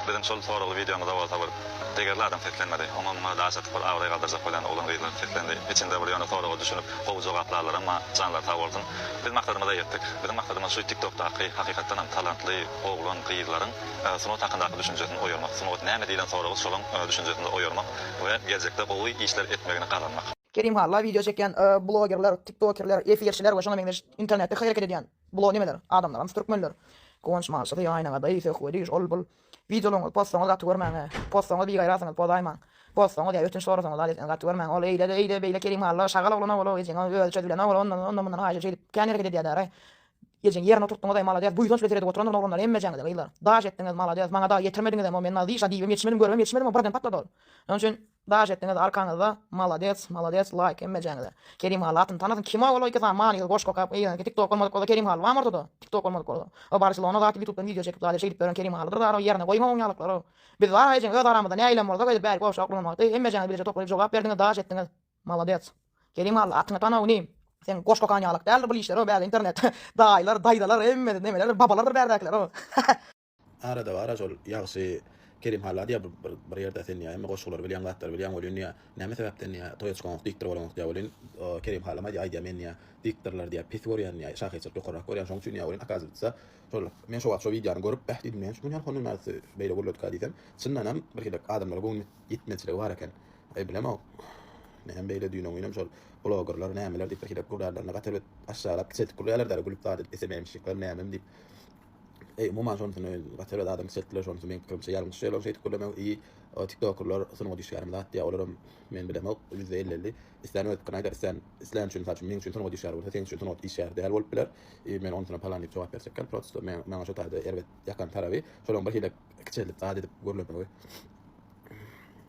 Biziň şol soragly wideomyza bolsa bir degerli adam seslenmedi. Oňa muňa daş atyp bir abraý galdyrjak bolýan oglan-gyzlar seslendi. Içinde bir ýöne soraga düşünip gowy jogap larlaramma janlary sag bolsun. Biz maksadymyza ýetdik. Biziň maksadymyz şu tik tokdaky hakykatdanam talantly oglan gyzlaryň sungat hakyndaky düşünjesini oýarmak. Sungat näme diýlen soragy şolaň düşünjesinde oýarmak we geljekde gowy işler etmegini gazanmak. Kerim halla wideo çekýän blogerler, tiktokerler, efirçiler we şoňa meňzeş internetde hereket edýän blo nimeler adamlaramys türkmenler. Guwanç malçysy ýaýynaňyzdaý söhbedi şol bul wideolaryňyzy postaňyz gaty görmäňä. Postaňyz bigaýrasyňyz pozaýmaň. Postaňyz ýa ötünç sorasaňyz ady etseňiz gaty görmäň. Ol eýle-de eýle beýle Kerim halla şagal oglan owaly ejeň ol özi çözülen owaly ondan ondan mundan haýyş şeýdip kän hereket edýädaýraý. Ejeňi ýerine oturtdyňyzaý malades buýsanç bilen seredip oturandyr oglanlar hemmejeňizi gyzlar. Daş etdiňiz malades maňada ýetirmediňizem o men nazişa diýibem ýetişmedim görübem ýetişmedim o birden patlady ol. Şonuň üçin. Daş etdiňiz arkaňyzda maladets maladets laýk hemmejeňize Kerim Hally atyny tanasyn kim o ol iki sany manysyz goşgy okap eýýämki tiktok bolmadyk bolsa Kerim Hally bamy ortada tiktok bolmadyk bolsa o Barcelona zat ýutubdan wideo çekip zat şeýdip ýören Kerim Hallydyr zat o ýerine goýuň oň ýalaklara biz bar ejeň öz aramyzda nägilem bolsa öýdüp bärik goşgy oklamagydy hemmejeňiz bileje toplaýyp jogap berdiňiz daş etdiňiz maladets Kerim Hally atyny tana inim. Seň goşgy okan ýalak däldir bul işler o bäri internet daýylar daýzalar hemmesi nemelerdir babalardyr bärdekiler o. Arada bar-a şol ýagşy Kerim halla diýýä bir ýerde sen diýýä hemme goşgulary bilýäň zatlary bilýäň welin diýýä näme sebäpden diýýä toýaçkoňok diktor bolaňok diýýä welin Kerim hallam aýdýa aýdýa men diýýä diktorlary diýýä pes görýän diýýä şahyrçylyk ýokarrak görýän şoň üçin diýýä welin akazywitsa şol men şo wagt şo wideony görüp bäh diýdim näme üçin munýan honyň narysy beýle gürledyka diýsem çyndanam birhilek adamlara göwün ýetmezçiligi bar eken aý bilemok näme beýle düýn öňňinem şol blogerler nämeler diýip birhilek gürlärlerine gaty erbet aşşalap kiçeltip gürleýärler däli gülüp zat edip esememşikler nämem diýip Eý umuman şonusy gaty bir adam çekdiler şonusy meň pikirimçe ýalňyş şeýle şeýdip gürlemek i o tiktokerler sungat işgärimi zat diýýä olaram men bilemok ýüzde elli elli islän öz pikirini aýdar islän islän üçin mysal üçin meň üçin sungat işgäri bolsa seň üçin sungat işgäri däl bolup biler i men onusuna palan diýip jogap berjek däl prosto men maňa şo taýda erbet ýakan taraby şolaň bir hile kiçeldip zat edip gürlemegi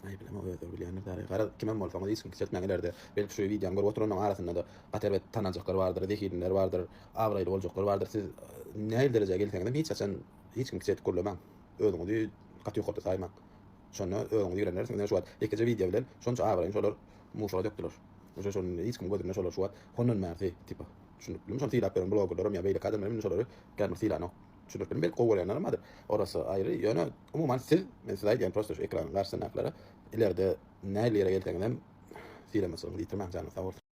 aý bilemok özleri bilýändir däli garaz kimem bolsaňyz hiç kim kiçeltmäň ilerde belki şu wideony görüp oturanlaň arasyndada gaty erbet tananjaklar bardyr zehinliler bardyr Abraýly boljaklar bardyr siz nähili derejä gelseňizem hiç haçan hiç kimi kiçi edip gürlemaň özüňizi gaty ýokarda saýmaň şonda özüňizi ýigrendireris ine şu wagt ýekeje wideo bilen şonça abraýyny şolar muşuga dökdüler uje şonda hiç kimiň gözünde şolar şu wagt hondan bärsi tipa düşündiripdirmi şony syýlap ýören blogerlerim ýa beýleki adamlar indi şolary kän bir syýlanok düşündiripdirmi belki gowy görýänlerem bardyr orasy aýry ýöne umuman siz men size aýdýan prosta şu ekranyň garşysyndakylara ilerde nähili ýere gelseňizem syýlamaçylygyňyzy ýitirmäň janyňyz sag bolsun.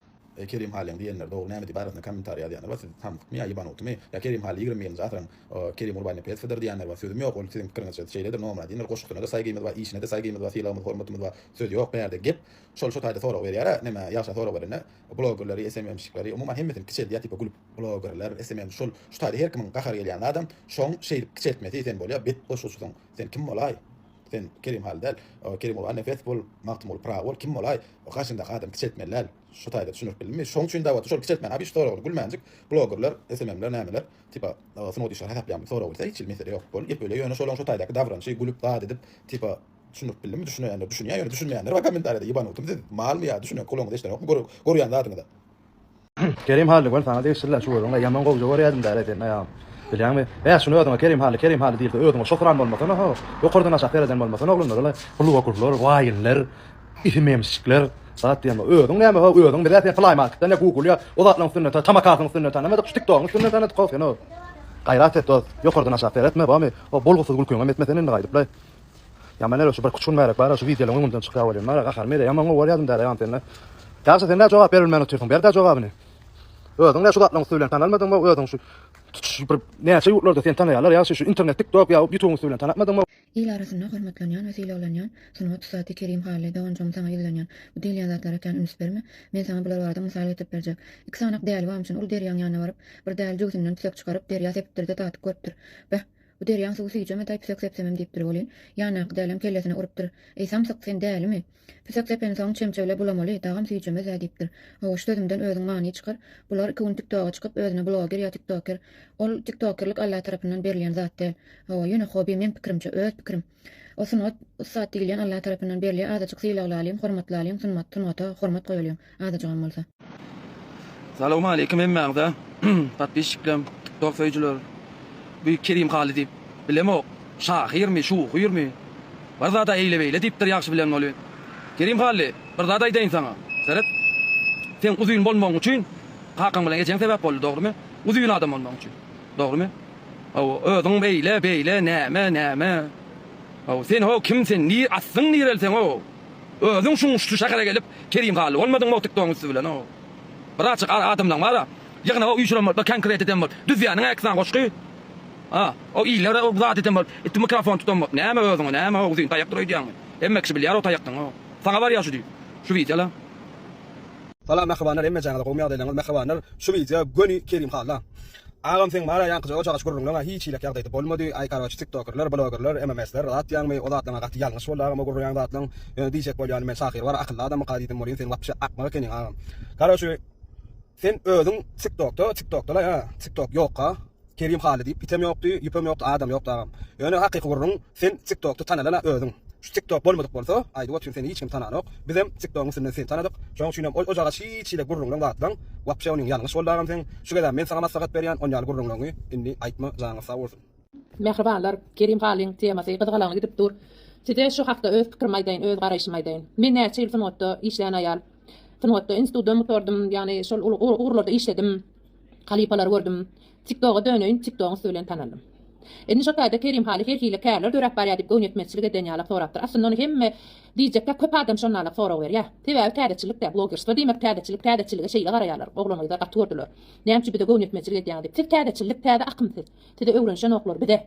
Eý Kerim Halyň diýenler dogry näme diýip arasyna kommentar ýazýanlar bar siz samsykmy ýa ýebanutmy ýa Kerim Haly ýigrimi birinji asyryň Kerim Gurbannepesowydyr diýýänler bar sözüm ýok ol siziň pikirinizçe şeýledir Nomradindir goşgusyna-da saýgymyz bar işine-de saýgymyz bar sylagymyz hormatymyz bar söz ýok bärde gep şol şo taýda sorag berýara neme ýagşa sorag berende blogerleri SMMşikleri umuman hemmesini kiçeldýä tipe gülüp blogerler SMM şol şu taýda her kimiň gahary gelýän zadam şoň şeýdip kiçeltmesi sen bolýa bet goşguçysyň sen kim bolaý sen Kerim Haly däl Kerim Gurbannepesow bol Magtymguly Pyragy bol kim bolaý Gaşyndaky adam kiçeltmeli däl şu taýda düşündirip bildimmi şoň üçin dawatda şol kiçeltmäni abiş soragly gülmänjik bloggerler sm'ler nämeler tipa sungat işgäri hasaplaýarmy sorag bilse hiç hili mesele ýok bol gep öýle ýöne şolaň şu taýdaky dabranyşy gülüp zat edip tipa düşündirip bildimmi düşüneýänler düşünýär ýöne düşünmeýänler bar kommentariýada ýybanutum siz malmy ýa düşünen kulagyňyz eşdenokmy görýän zadyňyza. Kerim Hally göni saňa degişliler şu özüňe ýaman gowja görýädim däl seni aýagym. Bilýäňmi? Bäh şuny özüňe Kerim Hally Kerim Hally diýilse özüňe şokuran bolmasana ho. Ýokardan aşak sereden bolmasana oglanlar ol-a hluokurlar, waýinler, isi memsjikler zat diýen bol. Özüň näme ho özüň bizä sen playmarketden ýa google ýa o zatlaryň üstünden ta tamakasyň üstünden tanamadyk şu tiktogyň üstünden tanadyk ho seni ho. Gaýrat et dost ýokardan aşak seretme bomy o bolgusyz gülkiňem etmesen indi gaýdyp-laý. Ýaman ere şu bir-iki üç gün bärek bar-a şu wideolaryň öňünden çykýar welin bar-a gahary mele ýaman gowy görýädim däde ýaman sende. Ýagşy sen-dä jogap berilmän otyrsyň ber-dä jogabyny. Özüň-dä şu zatlaryň üsti bilen tanalmadyňmy özüň şu tutuş bir näçe ýurtlarda seni tanaýarlar ýagşy şu internet tik tok ýa ýutubyň üsti bilen tanatmadyňmy. Il arasynda hormatlanýan we sylaglanýan sungat ussady Kerim Hally doganjygym saňa ýüzlenýän bu diýilýän zatlara ekän üns berme men saňa bular barada mysal getirip berjek iki sanak däli bamçyny ol derýaň ýanyna baryp bir däli jübüsinden tütek çykaryp derýa sepipdirde tatyp görüpdir beh Bu derýaň suwy süýjeme daý püsek sepsemem diýipdir welin, ýandaky dälem kellesine urupdyr, Eý, samsyk, sen dälimi? Püsek sepensoň çemçe bile bulamaly, dagam süýjemez-ä diýipdir. Hawa, şu sözümden özüň many çykar. Bular iki gün TikToga çykyp, özüne bloger ýa tiktoker. Ol tiktokerlik Alla tarapyndan berilýän zat däl. Hawa, ýöne hobi meň pikirimçe, öz pikirim. O sungat ussat diýilýän Allah tarapyndan berli azajyk sylaglalyň hormatlalyň sunmat sungata hormat goýalyň azajygam bolsa. Salowmaleýkim hemmäňize podpisçiklerim tiktok söýüjiler bu Kerim Haly diýip bilemok şahyrmy şuhyrmy bir zada eýle beýle diýipdir ýagşy bilen boly Kerim Hally bir zat aýdaýyn saňa seret seň uzyn bolmagyň üçin kakaň bilen ejeň sebäp boldy dogrymy uzyn adam bolmagyň üçin Dogrymy? Hawa, özüň beýle, beýle, näme, näme? Hawa, sen, ho, kim sen, ni, aslyň nireli seň, ho? Özüň şuň şu şähere gelip, Kerim Hally bolmadyňmy o tiktogyň üsti bilen, ho? Birazjyk ar adamlaň bar-a. Ýygnak o üýşüren bolup, bir konkret eden bolup, düzýäniň-ä iki sany goşgy. A, o illere o zat eden bolup, itdi mikrofon tutan bolup, näme özüňe, näme, ho, uzyn taýakdyr öýdýäňmi? Hemme kişi bilýär o taýakdyň, ho. Saňa barýar şu düýp, şu wideolar. Salam mähribanlar hemmejaňyza gowymy ýagdaýlaryňyz mähribanlar şu wideo göni Kerim Halla agam seň barä ýaňkyja ojaga gürrüňleňä hiç hiýlek ýagdaýda bolmady aý karoçi tiktokerler blogerler MMSler zatýaňmy o zatlaňa gaty ýalňyş boldy agam o gürrüňeň zatlaň ýöne diýjek bolýanym men şahyr bar akylly adamyka diýdim bolýyn sen wapşe akmak ekeniň agam karoçi sen özüň tiktokda tiktokdalaý a tiktok ýokka. Kerim Haly diýip item ýokdy, ýüpem ýokdy, adam ýokdy agam. Ýöne hakyky gürrüň sen tiktokda tanalan-a özüň. Şu tiktok bolmadyk bolsa, aýdyp otyryn seni hiç kim tananok. Bizem tiktogyň üstünden seni tanadyk. Şoň üçinem ol ojagaç hiç hili gürrüňleň zatlaň. Wapşe onyň ýalňyş boldy agam seň. Şu gezem men saňa maslahat berýän on ýaly gürrüňleňi indi aýtma janyňyz sag bolsun. Mähribanlar Kerim Halyň temasy gyzgalaňly gidip dur. Size şu hakda öz pikirimi aýdaýyn, öz garaýşymy aýdaýyn. Men näçe ýyl sungatda işleýän aýal. Sungatda institutdanm gutardym, ýagny şol ugurlarda işledim. Halypalary gördüm. Tiktoga döneýin Tiktogyň üsti bilen tanaldym. Indi şo taýda Kerim Haly her hili kärler döräp barýar diýip göwnetmezçilik eden ýalak sorapdyr. Aslynda ony hemme diýjekkä köp adam şonalak sorag berýär. Sebäbi täzeçilikdä blogerstwo diýmek täzeçilik täzeçilige şeýle garaýarlar oglangyzlar gaty gördüler. Nämçi bize göwnetmezçilik edýäňiz diýip. Siz täzeçillik täze akym siz. Size öwrenişenoklar bize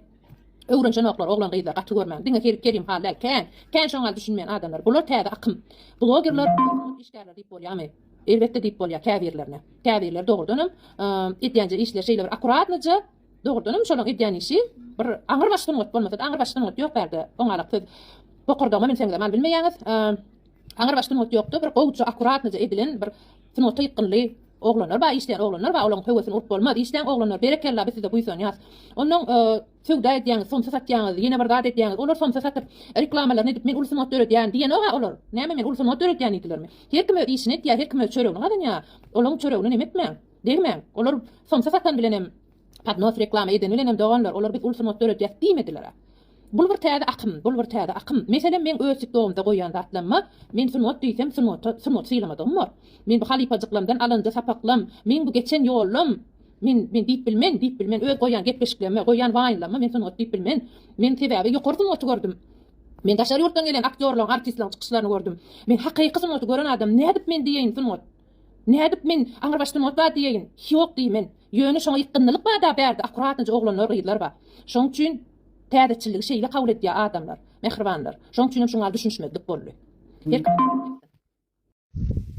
öwrenişenoklar oglan gyzlar gaty görmäň. Diňe her Kerim Haly däl kän kän şoňal düşünmeýän adamlar. Bular täze akym blogerler işgärler diýip bolýamy. Elbetde diýip bolýar käbirlerine. Käbirleri dogrudanam edýänje işleri şeýle bir akuratnyja, dogrudanam şolaň edýän işi bir aňrybaş sungat bolmasa-da, aňrybaş sungat ýok bärde. Oňalak siz bokurdagyma münseňizem mal bilmeýäňiz. Aňrybaş sungat ýokda bir gowuja, akuratnyja edilen bir sungata ýykgynly oglanlar bar, işleýän oglanlar bar, olaň höwesini urup bolmaz. Işleň oglanlar, berekella biz size buýsanýas. Onnoň Söwda edýäňiz, somsa satýaňyz, ýene bir zat edýäňiz, olar somsa satyp, reklamalaryny edip, men uly sungat döredýän diýenok-a olar. Näme men uly sungat döredýän diýdilermi? Her kim öz işini etýär, her kim öz çöregini gazanýar. Olaň çöregine näme etmäň, degmäň. Olar somsa satan bilenem, podnos reklama eden bilenem doganlar, olar biz uly sungat döredýäs diýmediler-ä. Bul bir täze akym, bul bir täze akym. Meselem, meň öz tikdogymda goýýan zatlamma, men sungat diýsem, sungata sungat sylamadygym bor. Men bu halypajyklamdan alanja sapaklam, meň bu geçen ýollam, Men, men diýip bilmen, diýip bilmen öz goýan gepleşiklerime, goýan waýnlaryma men sungat diýip bilmen. Men sebäbi ýokary sungaty gördüm. Men daşary ýurtdan gelen aktýorlaryň, artistlaryň çykyşlaryny gördüm. Men hakyky sungaty gören adam nädip men diýeýin sungat. Nädip men aňrybaş sungat bar diýeýin. Hiok diýi men. Ýöne şoňa ýykgynlylyk bada bärde akurat nji oglanlar, gyzlar bar. Şoň üçin täzeçilligi şeýle kabul edýä adamlar, mähribanlar. Şoň üçinem şuňal düşünişmezlik boldy. Her kim.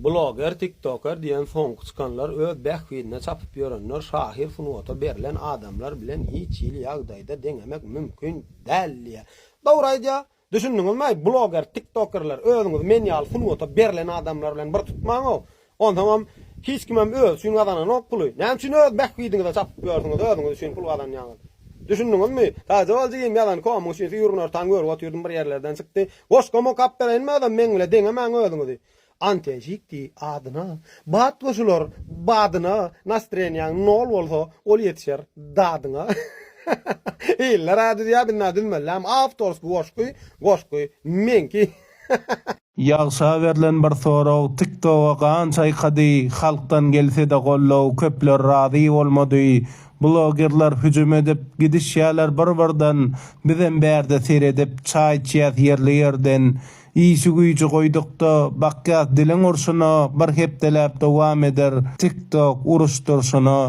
Bloger, tiktoker diýen soňky çykanlar öz bähbidine çapyp ýörenler şahyr sungata berlen adamlar bilen hiç hili ýagdaýda deňemek mümkin däl diýä. Dogry aýdýa. Düşündiňizmi-aý bloger, tiktokerler özüňizi men ýaly sungata berlen adamlar bilen bir tutmaň-ow. Onsoňam hiç kimem özi üçin gazananok puly. Näme üçin öz bähbidiňize çapyp ýörsüňiz özüňiz üçin pul gazanýaňyz. Düşündiňizmi? Taýjawal jigim ýazan komyň üçin süýrünertaň görüp otyrdym bir ýerlerden çykdy. Goşgama gap bereýin magdan meň bile deňemäň özüňizi. Anten şikdi adyna. Bat goşular badyna Nastrenýaň nol bolsa ol ýetişer dadyňa Iller a düzýä binna düzmeliläm Awtorsky goşgy goşgy meňki. Ýagşa berlen bir sorag tiktoga gan çaýkady halkdan gelsede gollow köpler razy bolmady Blogerler hüjüm edip gidişýäler bir birden bizem bärde seredip çaý içýäs ýerli ýerden işi güýji goýdukda bakýas diliň urşuna bir hepdeläp dowam eder tik tok uruş durşuna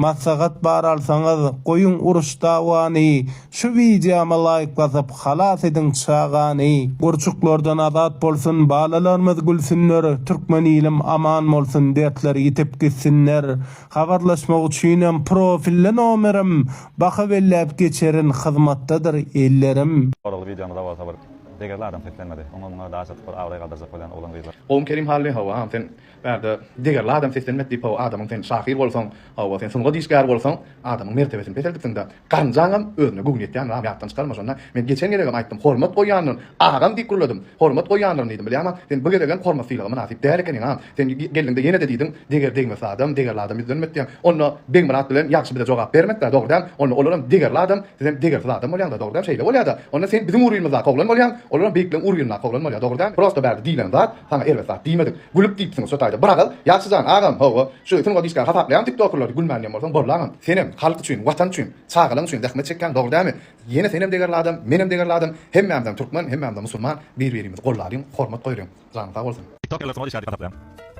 maslahat bar alsaňyz goýuň uruş dawany şu wideoma laýk basyp halas ediň çagany gurçuklardan azat bolsun balalarmyz gülsünler türkmen ilim aman bolsun dertler ýitip gitsinler Habarlaşmak üçinem profilli nomerim baka belläp geçerin hyzmatdadyr ellerim. Soragly wideomyza bolsa bir degerli adam seslenmedi. Oňa muňa daş atyp bir abraý galdyrjak bolýan oglan gyzlar. Gowum Kerim Hally hawa sen bärde degerli adam seslenmedi diýip hawa adamyň sen şahyr bolsaň hawa sen sungat işgäri bolsaň adamyň mertebesini peseldipsiňdä. Garynjaňam özüne göwün ýetýän ram ýatdan çykarma şonda men geçen gezegem aýtdym hormat goýýandyryn agam diýip gürledim hormat goýýandyryn diýdim bilýäňä sen bu gezegem hormat sylaga mynasyp däl ekeniň agam sen geldiňde ýenede diýdiň deger degmesi adam degerli adam ýüzlenmedi diýýäň onda Begmyrat bilen ýagşy bize jogap bermediler dogry däl onda olaram degerli adam sizem degersiz adam bolýaňda dogry däl şeýle bolýada onda sen biziň uryýmyzdaky oglan bolýaň olaram beýikleň uryýyndaky oglan bolýa dogry däl prosta bärde diýlen zat Saňa erbet zat diýmedik. Gülüp diýipsiň şo taýda. Biragal, ýagşy jan, agam, hawa, şu sungat işgäri hasaplaýan tiktokerleri gülmändiýen bolsaň bollaňam. Senem, halk üçin, watan üçin, çagalaň üçin zähmet çekýäň, dogry dämi? Ýene senem degerli adam, menem degerli adam, hemmämizem türkmen, hemmämizem musulman, bir-birimizi gollalyň, hormat goýulyň. Janyň sag bolsun. Tiktokerler sungat işgäri diýip hasaplaýan.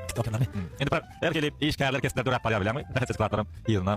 Tiktokerlermi? Indi bir erkeli işgärler kesipler döräp barýar bilýäňmi? Bähbitli syklatlaram ýygyna.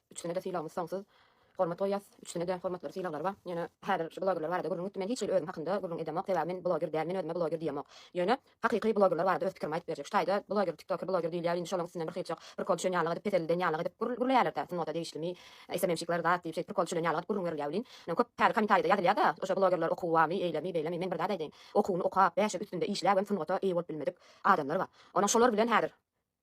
Üçüsine-de sylagymyz soňsuz. Hormat goýýas. Üçüsine-de hormatlary sylaglary bar. Ýöne häzir şu blogerler barada gürrüň gitdi. Men hiç hili özüm hakynda gürrüň edemok. Sebäbi men bloger däl. Men özüme bloger diýemok. Ýöne hakyky blogerler barada öz pikirimi aýdyp berjek. Şu taýda bloger, tiktoker, bloger diýilýär. Indi şolaň üstünden birhilçik prikol düşen ýalylyk edip, peselden ýalylyk edip gür gürleýärler-dä. Sungata degişlimi, SMM-şikler zat diýip, şeýdip prikol düşülen ýalylyk edip gürrüň berilýär welin, ine köp käri komentarýada ýazylýar-da, Oşo blogerler okuwamy, eýlemi, beýlemi. Men bir zat aýdaýyn. Okuwyny okap, bäşe üstünde işläbem sungata eýe bolup bilmedik adamlar bar. Onuň şolar bilen häzir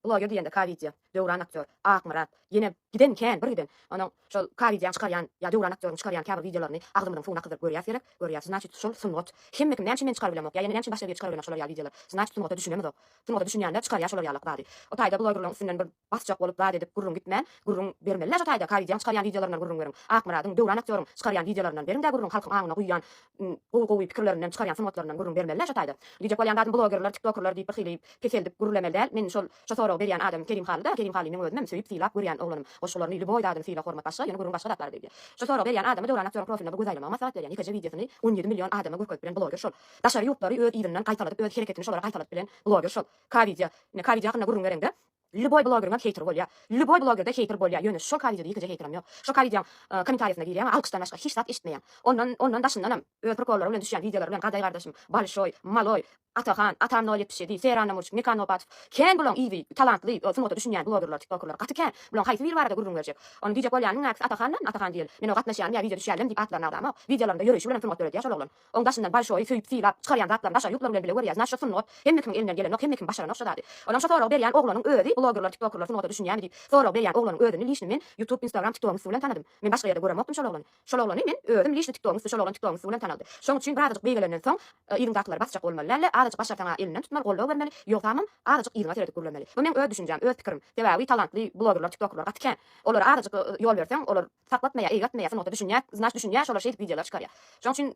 Bloger diýende Kawidýa, Döwran aktýor, Akmyrat, ýene giden kän, bir giden. Onuň şol Kawidýaň çykarýan ýa Döwran aktýoryň çykarýan käbir wideolaryny agzymyzyň suwuna kyzdyryp görýäs gerek, görýäs. Znaçit şol sungat. Hemme kim näme üçin men çykarybilemok ýa ýene näme üçin başga biri çykarybilenok şolar ýaly wideolary? Znaçit sungata düşünemizok. Sungata düşünýänler çykarýar şolar ýalak zady. O taýda blogerlaryň üstünden bir basjak bolup zat edip gürrüň gitmän, gürrüň bermeli-dä şo taýda Kawidýaň çykarýan wideolaryndan gürrüň beriň. Akmyradyň, Döwran aktýoryň çykarýan wideolaryndan beriň-dä gürrüň halkyň aňyna guýýan gowy gowy pikirlerinden çykarýan sungatlaryndan gürrüň bermelidä şo taýda. Diýjek bolýan zadym blogerler tiktokerler diýip birhili peseldip gürlemeli däl men şol şo soragy berýän adamym Kerim Halyda Kerim Haly meň özümem söýüp sylap görýän oglanym goşgularyny lýuboý zadyny syla hormat başga ýöne gürrüň başga zatlara gidýär şo soragy berýän adamy Döwran aktýoryň profiline bir göz aýlamagy maslahat berýän ýekeje wideosyny on ýedi million adama görkezip bilen bloger şol daşary ýurtlary öz yzyndan gaýtaladyp öz hereketini şolara gaýtaladyp bilen bloger şol K wideo ine K wideo hakynda gürrüň bereňde Lýuboý blogeriňem heýteri bolýa. Lýuboý blogerde heýter bolýa ýöne şol ka wideoda ýekeje heýterim ýok. Şo ka wideoň komentarýasyna girýäňä alkyşdan başga hiç zat eşitmeýäň. Ondan ondan daşyndanam öz prikollary bilen düşýän wideolary bilen Gaday gardaşym, Balşoý, Maloý, Atahan, Atan nol ýetmiş ýedi, Sera Namurçik, Mekan Nopatow. Kän bulaň yzy, talantly, sungata düşünýän blogerler, tiktokerler. Gaty kän. Bulaň haýsy biri barada gürrüň berjek. Ony diýjek bolýanyň näkisi Atahandan, Atahan diýeli. Men o gatnaşýanm ýa wideo düşýänlem diýip atlaryny agzamok. Wideolarynda ýöreýşi bilenem sungat döredýä şol oglan. Oň daşyndan bolşoý söýüp sylap, çykarýan zatlaryny daşary ýurtlar bilen bile görýäs, naşa sungat, hemme kimiň elinden gelenok, hemme kim başaranok şo zady. Onam şo soragy berýän oglanyň özi blogerlar tiktokerlar sungata düşünýämi diýip sorag berýän oglanyň özüni lişni men ýutub instagram tiktogyň üsti bilen tanadym. Men başga ýerde göremokdym şol oglany. Şol oglany men özüm lişni tiktogyň üsti şol oglan tiktogyň üsti bilen tanaldy. Şoň üçin birazajyk beýgelenden soň yzyňdakylary basjak bolmaly dälle azajyk başarsaň a elinden tutmaly goldaw bermeli ýogsamam azajyk yzyňa seredip gürlemeli. Bu meň öz düşünjäm öz pikirim. Sebäbi talantly blogerlar tiktokerlar gaty kän. Olara azajyk ýol berseň olar saklatmaýa eýgertmeýä sungata düşünýä znaç düşünýä şolar şeýdip wideolar çykarýa şoň üçin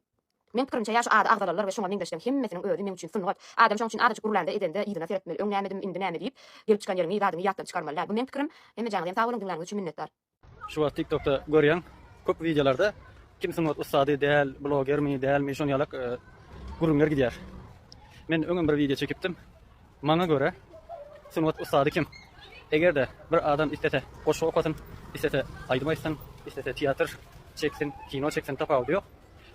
Meň pikirimçe ýa şu ady agzalalylar we şuňa meňzeşleň hemmesiniň özi meň üçin sungat adam şoň üçin azajyk gürlände edende yzyna seretmeli öň nämedim indi näme diýip gelip çykan ýeriňi zadyňy ýatdan çykarmaly däl bu meň pikirim hemme janyňyz hem sag boluň diňläniňiz üçin minnetdar. Şu wagt tiktokda görýän köp wideolarda kim sungat ussady däl blogermi dälmi şon ýalak gürrüňler gidýär men öňem bir wideo çekipdim Maňa görä, sungat ussady kim? Eger-de bir adam islese goşgy okasyn, islese aýdym aýtsyn, islese teatr çeksin, kino çeksin, tapawudy ýok.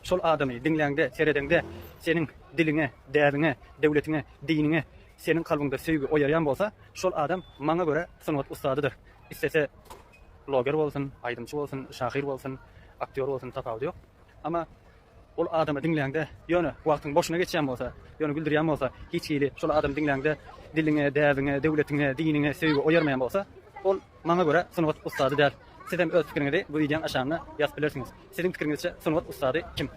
Şol adamy diňläňde, seredeňde seniň diliňe, däbiňe, döwletiňe, diniňe, seniň kalbyňda söýgi oýarýan bolsa, şol adam, maňa görä, sungat ussadydyr. Islese bloger bolsun, aýdymçy bolsun, şahyr bolsun, aktýor bolsun, tapawudy ýok. Amma. Ol adamy diňläňde, ýöne wagtyň boşuna geçýän bolsa, ýöne güldürýän bolsa, hiç hili şol adamy diňläňde diliňe, däbiňe, döwletiňe, diniňe söýgi oýarmaýan bolsa, ol, maňa görä, sungat ussady däl. Siz hem öz pikiriňizi bu wideoň aşagynda ýazyp bilersiňiz. Siziň pikiriňizçe sungat ussady kim?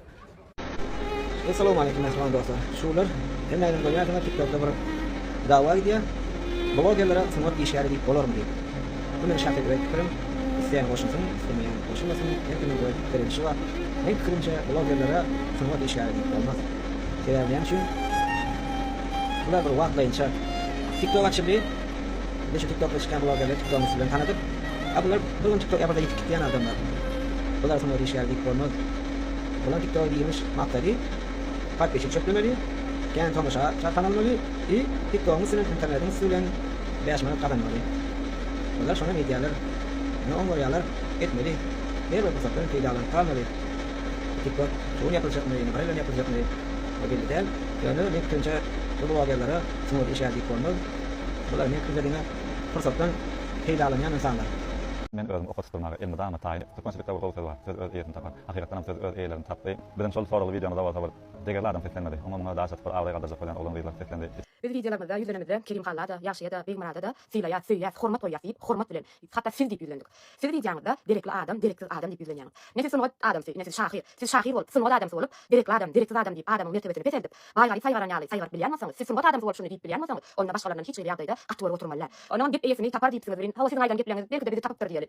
Essalowmaleýkim mähriban dostlar. Şular hemmäňiz görýänsiňiz tiktokda bir dawa gidýär. Blogerlere sungat işgäri diýip bolarmy diýip. Bu meniň şahsy öz pikirim. Isleýän goşulsyn, islemeýän goşulmasyn, her kimiň öz pikir edişi bar. Meň pikirimçe, blogerlere sungat işgäri diýip bolmaz. Sebäbi näme üçin? Bular bir wagtlaýynça TikTok açyldy. Indi şu TikTokda çykýan blogerler TikTogyň üsti bilen tanadyk. A bular bir gün TikTok ýapylsa ýitip gitýän adamlar. Bulara sungat işgäri diýip bolmaz. Bular TikTogy giňiş maksady, podpisçik çöplemeli, kän tomaşa çarhan almaly i TikTogyň üstünden, internetiň üsti bilen, Bäş manat gazanmaly. Olar şonam edýärler. Ýöne oň görýärler. Etmeli. Her bir pursatdan peýdalanyp galmaly. Tik tok şugun ýapyljakmy, nahar bilen ýapyljakmy ol belli däl. Ýöne meň pikirimçe bu blogerlere sungaty işe diýip bolmaz. Bular meň pikirimde diňe pursatdan peýdalanýan ynsanlar. Men özüm oka tutulmaga elmydama taýyn edip türkmençilikde bir gowy söz bar, söz öz eýesini tapar. Hakykatdanam söz öz eýelerini tapdy. Bizem şol soragly wideomyzda bolsa bir degerli adam seslenmedi. Oňa muňa daş atyp bir abraý galdyrjak bolýan oglan gyzlar seslendi. Biz wideolarymyzda ýüzlenenimizde Kerim halla-da, Ýagşyýa-da, Begmyrada-da sylaýas, söýýäs, hormat goýýas diýip, hormat bilen, hatda siz diýip ýüzlendik. Siz wideoňyzda derekli adam, dereksiz adam diýip ýüzlenýäňiz. Ne siz sungat adamsy, ne siz şahyr. Siz şahyr bolup, sungat adamsy bolup, derekli adam, dereksiz adam diýip adamyň mertebesini peseldip, baý-garyp saýgaran ýaly saýgaryp bilýän bolsaňyz, siz sungat adamsy bolup şuny diýip bilýän bolsaňyz, onda başgalaryndan hiç hili ýagdaýda gaty gory oturmaly däl. Onam gep eýesini tapar diýipsiňiz welin, hawa siziň aýdan gepleňiz belki-de bizi tapypdyr diýeli.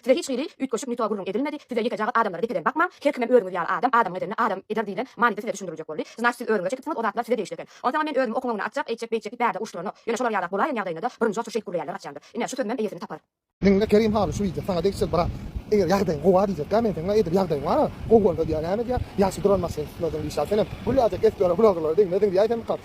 Size hiç hili üýtgeşik nito gürrüň edilmedi, size ýekejagyz adamlara depeden bakmaň, her kimem özüňiz ýaly adam, adamyň edenini adam eder diýlen manyda size düşündiriljek boldy, znaçt siz özüňize çekipsiňiz o zatlar size degişli eken. Onsaňam men özümi okumagyny atjak, eýtjek, beýtjek diýip bärde urşdyranok. Ýöne şolar ýalak bolaýan ýagdaýynda-da birinji oçur şeýt gürleýänler gaçýandyr. Ine, şu sözümem eýesini tapar. Diňle Kerim haly şu wideo saňa degişli brat. Eger ýagdaýyň gowa diýjekkä men seň edil ýagdaýyň bar-a, gowy bolsa diýýä näme diýýä, ýaşy duran maşyn tutmadym diýşä senem Gülläjek espere bloggerlere degmeziň diýäýsemika.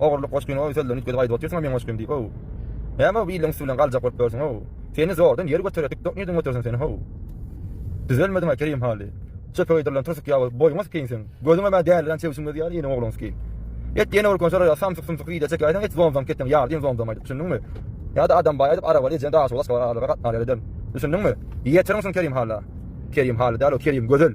Ogurlyk goşgyny oý sözlerini üýtgedip aýdyp otyrsyň-a meň goşgym diýip ow. Näme-ow bu iliň üsti bilen galjak bolup ýörsüň-ow. Seni zordan ýer götere dikdok nirden götersin seni how. Düzelmediň-a Kerim Hally. Çöpe geýdirilen trusik ýaly boýuňa sikin sen. Gözüňem-ä dälirän çebşiň özi ýaly ýene ogluňy sikin. Et ýene görken şolara samsyk-sumsyk wideo çekäýseň et zomzam keteň ýardyn zomzam aýdyp düşündiňmi. Ýa-da adam baý aýdyp arabaly ejeň daşy bolan şolar aralyga gatnarýar eden. Düşündiňmi. Ýetirňsin Kerim Halla. Kerim Hally däl-ow Kerim Gözel.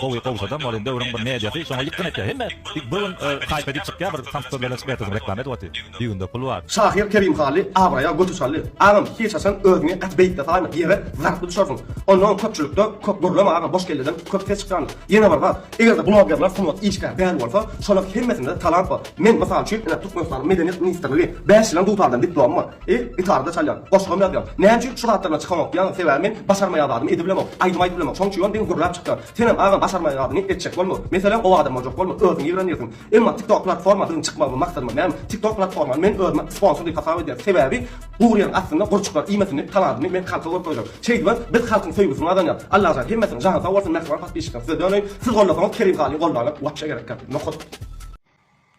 Gowy gowşadam ol indi öwrüň bir mediasy şoňa ýykgyn etýä hemme bir gün haýp edip çykýa bir samsyk söz bilen çykyp ertesi gün reklama edip otyr düýbünde pul bar. Şahyr Kerim Hally abraýa göti çaldy. Agam hiç haçan özüňi gaty beýikde saýma ýere zarply düşersiň. Onnoň köpçülikde köp gürleme agam boş kelleden köp ses çykýandyr. Ýene bir zat egerde blogerler sungat işgär däl bolsa şolar hemmesinde talant bar. Men mysal üçin ine Türkmenistanyň medeniýet ministrligi bäş ýylan dutardan diplomy bar. E, gitarada çalýan, goşgam ýazýan. Näme üçin şu zatlar bilen çykanok diýýäňiz? Sebäbi men başarmaýan zadymy edip bilemok. Aýdym aýdyp bilemok. Şonuň üçin ýöne diňe gürläp çykýan. Senem agam başarmaýan zadyňy etjek bolma. Meselem gowy adam boljak bolma. Özüň ýigrenýärsiň. Emma TikTok platforma biziň çykmagymy maksadyma mälim. TikTok platformany men özüme sponsor diýip hasap edýän. Sebäbi gury ýeriň astynda gurçuklar iýmesini talabyny men halka görüp goýjak. Şeýdibem biz halkyň söýgüsini gazanýas. Allajan hemmesiniň jany sag bolsun mähriban patpisçikler size döneýin. Siz gollasaňyz Kerim halyň gollany wapşe gerekkä. Nohut.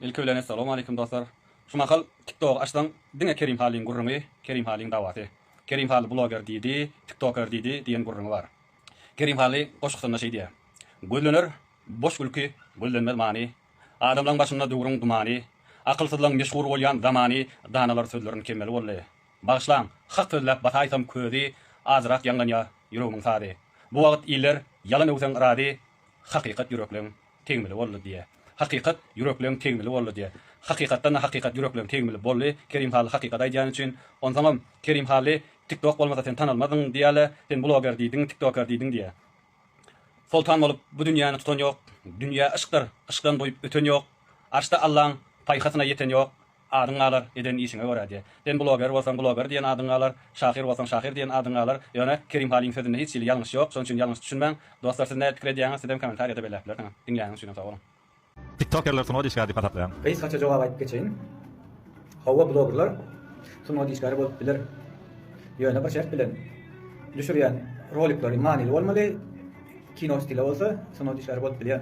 Ilki bilen Essalamualeýkum dostlar. Şu mahal TikTogy açsaň diňe Kerim Halyň gürrüňi, Kerim Halyň dawasy. Kerim Haly bloger diýdi, tiktoker diýdi diýen gürrüňi bar. Kerim Haly goşgusynda şeýdýä, Gözlener boş gülki, gözlenmez many, Adamlaň başynda döwrüň dumany, Akylsyzlaň meşhur bolýan zamany, Danalar sözlerin kemmeli boldy. Bagyşlaň, hak sözläp basaýsam közi, Azrak ýaňlanýa ýüregimiň sazy. Bu wagt iller ýalan öwseň razy, Hakykat ýürekleň tegmili boldy diýe Hakykat ýürekleň tegmili boldy diýe Hakykatdanda hakykat ýürekleň tegmili boldy Kerim Hally hakykat aýdýany üçin Onsoňam Kerim Hally tik tok bolmasa sen tanalmazdyň diýýäle sen bloger diýdiň tik toker diýdiň diýe Soltan bolup bu dünýäni tutan ýok Dünýä yşkdyr yşkdan doýup öten ýok Arşda Allaň paýhasyna ýeten ýok Adyň galar, eden işiňe görä diýýär. Sen bloger bolsaň, bloger diýen adyň galar, şahyr bolsaň, şahyr diýen adyň galar. Ýöne Kerim Halyň sözünde hiç hili ýalňyş ýok, şonuň üçin ýalňyş düşünmäň. Dostlar siz nädip pikir edýäňiz, sizem kommentariýada belläp bilersiňiz. Diňläniň üçinem sag boluň. Tiktokerler sungat işgäri diýip hasaplaýan. Gysgaça jogap aýdyp geçeýin. Hawa blogerler sungat işgäri bolup biler. Ýöne bir şert bilen. Düşürýän rolikleri manyly bolmaly, kino stili bolsa sungat işgäri bolup bilýär.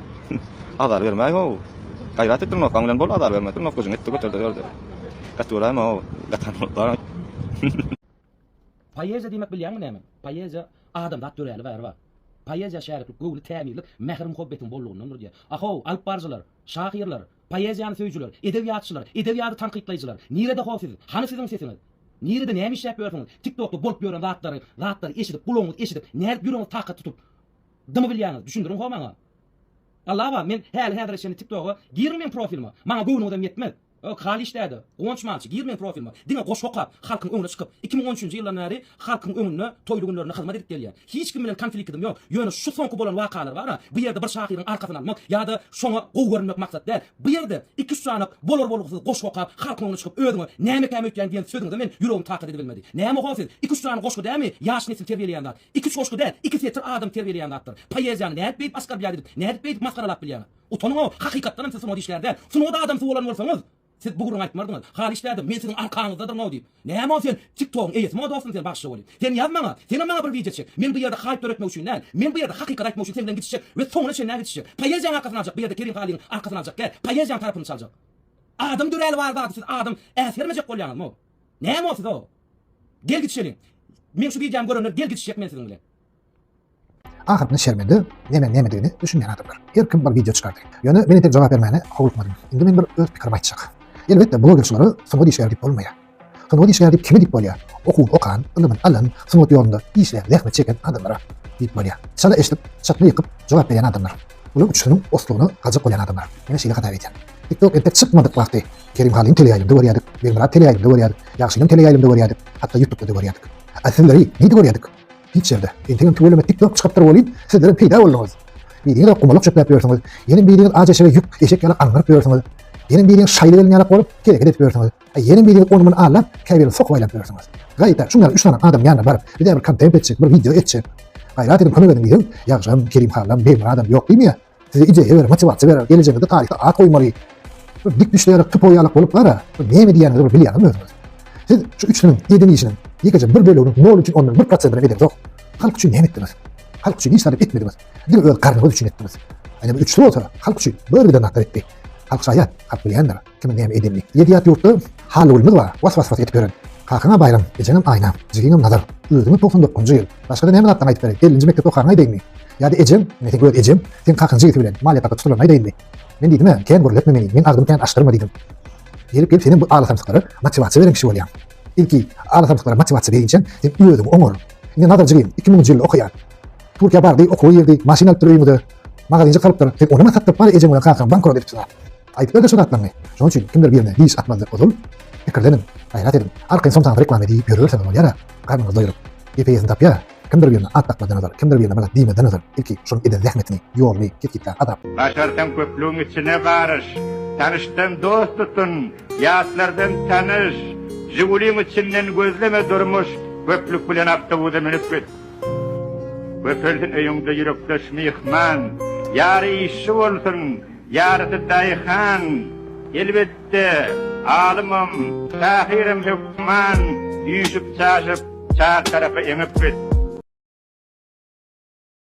Azar bermäý-how! Gaýrat etdir nokgaň bilen bol, azar berme, nok güjüň etdi göter-de ýör-de. Gaty göräýme-how, gatan bolup bar-aý. Poeziýa diýmek bilýäňmi näme? Poeziýa, adamzat döräli bäri bar. Poeziýa şäriklik, göwni tämizlik, mähir-muhabbetiň bollugyndandyr diýýär. A-how, alyp baryjylar, şahyrlar, poeziýany söýüjiler, edebiýatçylar, edebiýady tankytlaýjylar, nirede-how siz? Hany siziň sesiňiz? Nirede, näme işläp ýörsüňiz? Tik-tokda bolup ýören zatlary, zatlary eşidip, gulagyňyz eşidip, nädip ýüregiňiz takat tutup, Dymy bilýäňiz, düşündiriň ho maňa. Alla bar, men häli häzire çenli tiktoga girmän meň profilime, maňa göwnüňizem ýetmez. Öh, haly işdäde, guwanç malçy, gir meň profilime, diňe goşgy okap, halkyň öňüne çykyp, iki müň on üçünji ýyldan bäri halkyň öňünde toýly günlerinde hyzmat edip gelýän. Hiç kim bilen konfliktim ýok, ýöne şu soňky bolan wakalar bar-a, bu ýerde bir şahyryň arkasyny almak ýa-da şoňa gowy görünmek maksat däl. Bu ýerde iki-üç janak bolar-bolgusyz goşgy okap, halkyň öňüne çykyp özüňe nämekäm öýtýän diýen sözüňize men ýüregim takat edebilmedi. Näme ho siz, iki-üç sany goşgy dämi ýaş nesil terbiýeleýän zat. Iki-üç goşgy däl, iki setir adam terbiýeleýän zatdyr. Poeziýany nädip beýdip asgarbýaz edip, nädip beýdip masgaralap bilýäňiz? Utanyň-ow, hakykatdanam siz sungat işgäri däl. Sungat adamsy bolan bolsaňyz, siz bu gürrüňi aýtmardyňyz. Halyç dädem, men siziň arkaňyzdadyryn-ow diýip. Näme-ow sen TikTok-yň eýesimiň-ow dostum sen bagşy weli. Sen ýaz maňa, senem maňa bir wideo çek. Men bu ýerde haýp döretmek üçin däl, men bu ýerde hakykaty aýtmak üçin sen bilen gidişjek we soňuna çenli-ä gidişjek. Poeziýaň arkasyny aljak, bu ýerde Kerim Halygyň arkasyny aljak däl, poeziýaň tarapyny çaljak. Adam döräli bar zady siz adam äsgermejek bolýaňyzm-ow. Näme bolsa da gel gitişeliň. Meň şu videomy görenler gel gitişjek men siziň bilen. Ahyryna şermende nemeň nemedigini düşünmän adamlar. Her kim bir video çykardy. Ýöne men entek jogap bermäne howlukmadym. Indi men bir öz pikirimi aýtjak. Elbetde blogerçilara sungat işgär diýip bolmaýar. Sungat işgär diýip kime diýip bolýar? Okuwuny okan, ylymyny alan, sungat ýolunda işlän, zähmet çeken adamlara diýip bolýar. Çala eşidip, çatma ýykyp jogap berýän adamlar. Bular üçüsiniň oslugyna gajak bolýan adamlar. Menä şeýle hasap edýän. Tiktok entek çykmadyk wagty Kerimhalyň teleýaýlymda görýädik, Begmyrat teleýaýlymda görýädik, Ýagşynyň teleýaýlymda görýädik, hatda ýutupda-da görýädik. A sizleri nirde görýädik? Hiç ýerde. Entegem tüweleme tik tok çykypdyr welin, sizlerem peýda bolduňyz. Biriňizem gumalak çöpläp ýörsüňiz, ýenem biriňiz ajy eşege ýük, eşek ýaly aňňyryp ýörsüňiz, ýenem biriňiz şaýly gelin ýalak bolup, kereket edip ýörsüňiz, a ýenem biriňiz ony-muny allap, käbirini sokup aýlap ýörsüňiz. Gaýta, şuňňaly üç sany adamyň ýanyna baryp, bizä bir kontent etjek, bir wideo etjek. Gaýrat ediň, kömek ediň diýseň, Ýagşam, Kerimhalam, Begmyradam ýok diýmeýär. Size ideýa berer, motiwasiýa berer, gelejegiňizde taryhda at goýmaly, bir dik düşlere tupoý ýalak bolup gara, näme diýýäniňizi bir bilýäňizmi özüňiz? Siz şu üçlüniň eden işiniň ýekeje bir bölegini nol üçin ondan bir prosentini edemzok. Halk üçin näme etdiňiz? Halk üçin hiç zat etmediňiz. Diňe öz garnyňyz üçin etdiňiz. Ene bu üçlü bolsa halk üçin bir giden zatlar etdi. Halk şaýat, halk bilýändir. Kimin näme edenini. Ýedi ýat ýurtda Hallygülmiz bar. Was was was edip ýören. Kakaň-a Baýram, ejeňem Aýna, jigiňem Nazar. Özüňiz togsan dokuzynjy ýyl. Başga-da näme zatlaň aýdyp beräý. Ellinji mekdepde okaryňy aýdaýynmy? Ýa-da ejeň, ine seň öz ejeň, seň kakaň jigisi bilen maliýe tarda tutulanyny aýdaýynmy? Men diýdim-ä, kän gürletme meni, meň agzymy kän açdyrma diýdim. Gelip-gelip senem bu alasamsyklara motiwasiýa beren kişi bolýaň. Ilki alasamsyklara motiwasiýa beýinçäň sen özüňi oňar. Indi Nazar jigim iki müňünji ýylda okaýar. Türkiýä bardy, okuwa girdi, maşyn alypdyr öýüňize. Magazynjyk salypdyr. Sen onam-a satdyryp bary ejeň bilen kakaň bankrot edipsiň-a. Aýdyp ber-de şo zatlaryňy. Şonuň üçin kimdir birine diş atmalydyr ozal. Pikirleniň, gaýrat ediň. Arkaýyn somsaňyz reklama diýip ýörüberseňiz bolýar-a, garnyňyz doýrup. GPS-ni tapýar. Kimdir birine at dakmazdan ozal, kimdir birine blat diýmezden ozal, ilki şonuň eden zähmetini, ýoluny, ketgitläp, azap. Başarsaň köplügiň içine garyş. Tanyşdan dost tutun, ýatlardan tanyş. Žiguliň içinden gözleme durmuş, köplük bilen awtobusa münüp git. Köpelsin öýüňde ýürekdeş myhman. Ýary işçi bolsun, Ýarysy daýhan, elbetde, alymam, şahyram hökman üýşüp-çaşyp, çar tarapa eňip git.